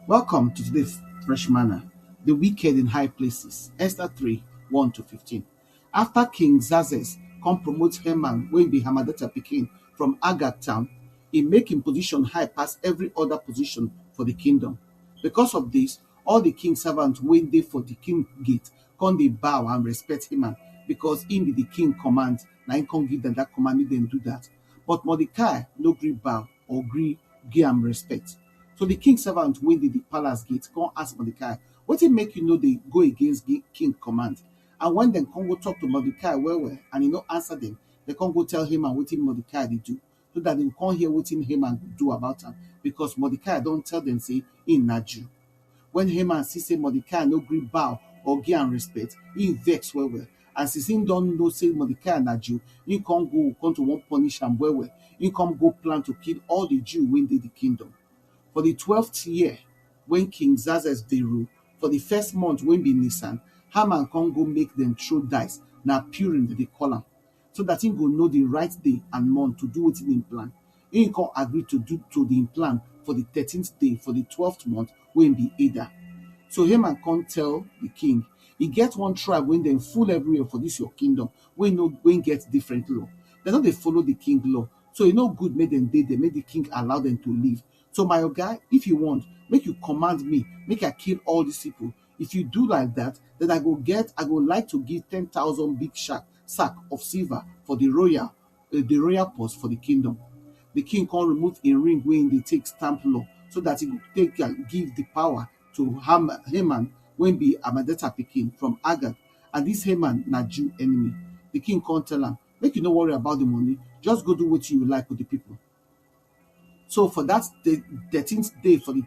Welcome to today's Fresh Manna, the wicked in high places, Esther 3 1 to 15. After King Xerxes come promote Haman, wey be Hamadata pikin from Agag town, he make him position high pass every other position for the kingdom. Because of this, all the king servants wey dey for the king gate come dey bow and respect Haman because he be the king command, na him come give them that command make them do that. But Mordecai no gree bow. or gree gi am respet. So di king servant wey dey di palace gate kon ask Mordecai, Wetin make yu no dey go against di king kommand? And wen dem kon go tok to Mordecai well-well and e no ansa dem, dem kon go tell Haman wetin Mordecai dey do, so dat dem go kon hear wetin Haman go do about am, bikos Mordecai don tell dem sey im na Jew. Wen Haman see sey Mordecai no gree bow or give am respect, im vex well-well. And since im don know sey Mordecai na Jew, im come go come to wan punish am well-well. Im come go plan to kill all di Jew wey dey di kingdom. For di twelfth year wey King Xerxes dey rule, for di first month wey be Nisan, Haman come go make dem throw dice, na Purim dem dey call am. so dat im go know di right day and month to do wetin im plan. Im kon agree to do to di im plan for di thirteenth day for di twelfth month, wey bi Adar. So Haman kon tell di king, E get one tribe wey dem full evriwhere for dis yor kingdom wey no wey get different law. Dem no dey follow di king law, so e no good make dem dey der, make di king allow dem to live. So my oga, if yu wont, make yu kommand me make I kill all dis pipol, If you do like dat, den I go get I go like to give ten thousand big shark sack of silver for di royal eh, di royal purse for di kingdom. Di king come remove im ring wey im dey take stamp law, so dat e go take am give di power to Ham Haman wey be Hamadeta pikin from Agag, and dis Haman na Jew enemy. Di king come tell am, Make you no worry about di money, just go do wetin you like wit di pipo. So for dat thirteenth day for di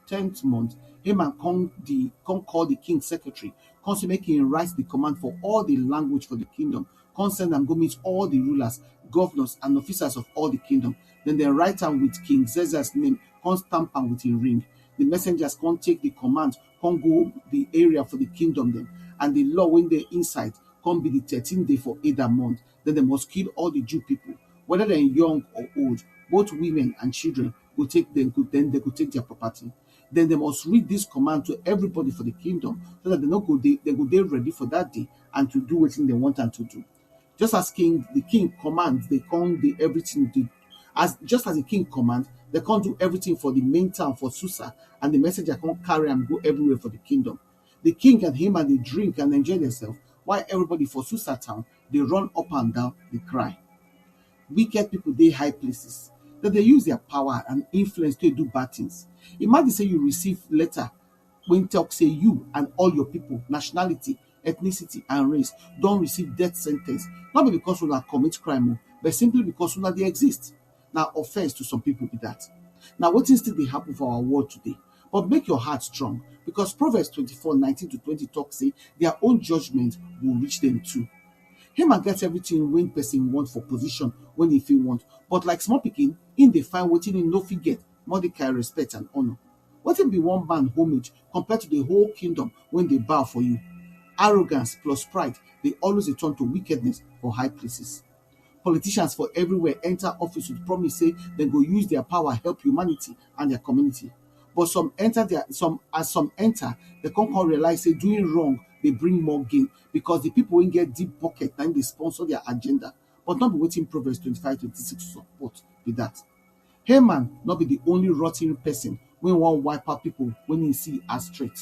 tenth month, Haman come di come call di king secretary, come say make im write di command for all di language for di kingdom, come send am go meet all di rulers, governors and officers of all di kingdom. Den dem write am with King Xerxes name, come stamp am with im ring. Di messengers come take di command come go di area for di kingdom dem, and di law wey dey inside come be di thirteen day for Eda month. den dem must kill all di Jew pipo, weda dem young or old, both women and children go take dem go den dem go take dia property. Den dem must read dis command to everybody for di kingdom, so dat dem nor go dey dem go dey ready for dat day and to do wetin dem want am to do. Just as king di king command dey kon dey everytin dey as just as di king command, dey kon do everytin for di main town for Susa and di messenger kon carry am go everywhere for di kingdom. Di king and Haman dey drink and enjoy dem sef, while everybody for Susa town dey run up and down dey cry wicked people dey high places dem dey use their power and influence take do bad things imagine say you receive letter wey talk say you and all your people nationality ethnicity and race don receive death sentence no be because una commit crime o but simply because una dey exist na offense to some people be that. Na wetin still dey happen for our world today. But make your heart strong because Proverbs 24, 19 to 20 talk say their own judgment will reach them too. Haman get everything when person want for position when he fit want, but like small pikin, him dey find wetin him no fit get, Mordecai respect and honor. Wetin be one man homage compared to the whole kingdom when they bow for you? Arrogance plus pride dey always dey turn to wickedness for high places. Politicians for everywhere enter office with promise say dem go use their power help humanity and their community. But some enter their some as some enter, they come come realize say doing wrong dey bring more gain because the people wey get deep pocket na im dey sponsor their agenda. But no be wetin Proverbs twenty-five twenty-six support be that. Haman nor be di only rotten pesin wey wan wipe out pipo wey im see as threat.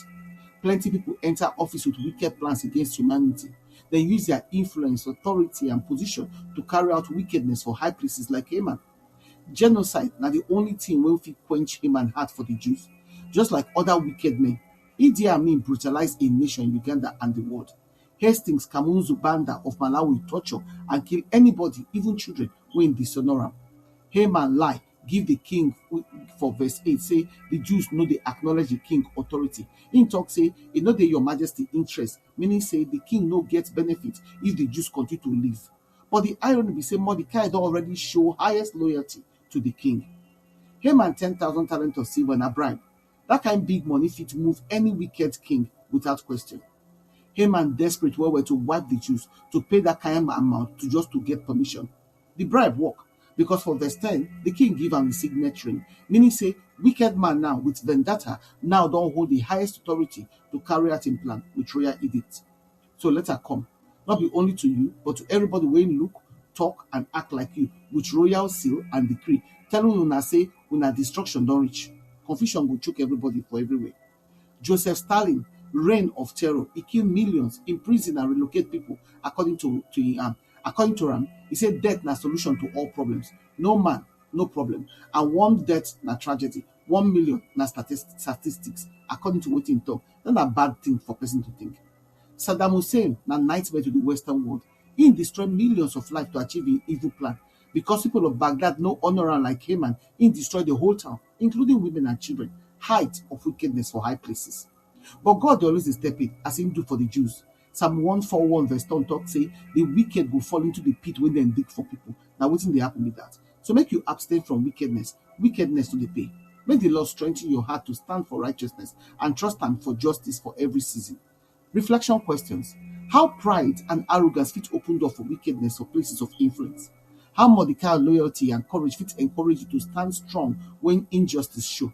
Plenty pipo enta office wit wicked plans against humanity. Dem use dia influence, authority and position to carry out wickedness for high places like Haman. Genocide na di only tin wey fit quench Haman heart for di Jews. Just like oda wicked men, Idi Amin brutalise a nation, Uganda and di world. Hastings Kamuzu Banda of Malawi torture and kill anybody, even children, wey im dishonour am. Haman lie give di king for verse eight sey di Jews no dey acknowledge di king authority. Im talk sey e no dey your majesty interest, meaning sey di king no get benefit if di Jews continue to live. But di irony be sey Mordecai don already show highest loyalty to di king. Haman ten thousand talent of silver na bribe, Dat kain big money fit move any wicked king without question. Haman desperate well-well to wipe di Jews to pay dat kain amount to just to get permission. Di bribe work, because for verse ten, di king give am im signet ring, meaning say wicked man now with vendetta now don hold di highest authority to carry out im plan with royal edict. So let her come, not be only to you, but to everybody wey look, talk, and act like you, with royal seal and decree, telling una say una destruction don reach. Confusion go choke everybody for everywhere. Joseph Stalin reign of terror, e kill millions, imprison and relocate people according to to im am. According to am, e say death na solution to all problems. No man, no problem, and one death na tragedy. one million na statist statistics according to wetin e talk dat na bad thing for person to think Saddam Hussein na nightmare to the western world him destroy millions of lives to achieve him evil plan because people of Baghdad no honour am like Haman him destroy the whole town including women and children height of wickedness for high places but God dey always dey step in as him do for the Jews Psalm 141 verse 10 talk say the wicked go fall into the pit wey dem dig for people. Na wetin dey happen be that. So make you abstain from wickedness. Wickedness no dey pay. Make the Lord strengthen your heart to stand for righteousness and trust am for justice for every season. Reflection questions. How pride and arrogance fit open door for wickedness or places of influence? How Mordecai loyalty and courage fit encourage you to stand strong when injustice show?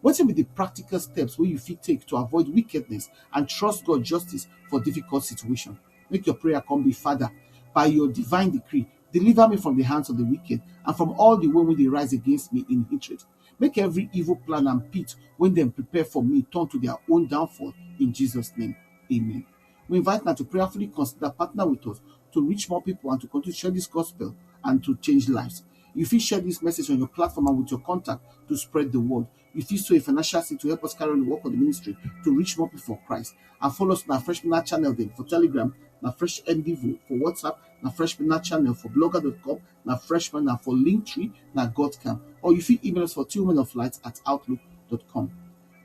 Wetin be di practical steps wey you fit take to avoid wickedness and trust God justice for difficult situation? Make your prayer come be Father by your divine decree deliver me from di hands of di wicked and from all di one wey dey rise against me in hatred make every evil plan and pit wey dem prepare for me turn to dia own downfall in Jesus name amen. We invite una to prayerfully consider partner with us to reach more people and to continue to share this gospel and to change lives. You fit share this message on your platform and with your contact to spread the word. You fit sow a financial seed to help us carry on the work of the ministry to reach more people for Christ. And follow us on our Fresh Minute channel then for Telegram, na Fresh MDVO for WhatsApp, na Fresh Minute channel for blogger.com, na Freshman, na for Linktree, na Godcamp. Or you fit email us for tillmanoflight at outlook.com.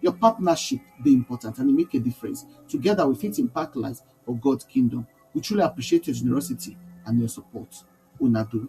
Your partnership dey important and e make a difference. Together, we fit impact lives for God kingdom. We truly appreciate your generosity and your support. Una do.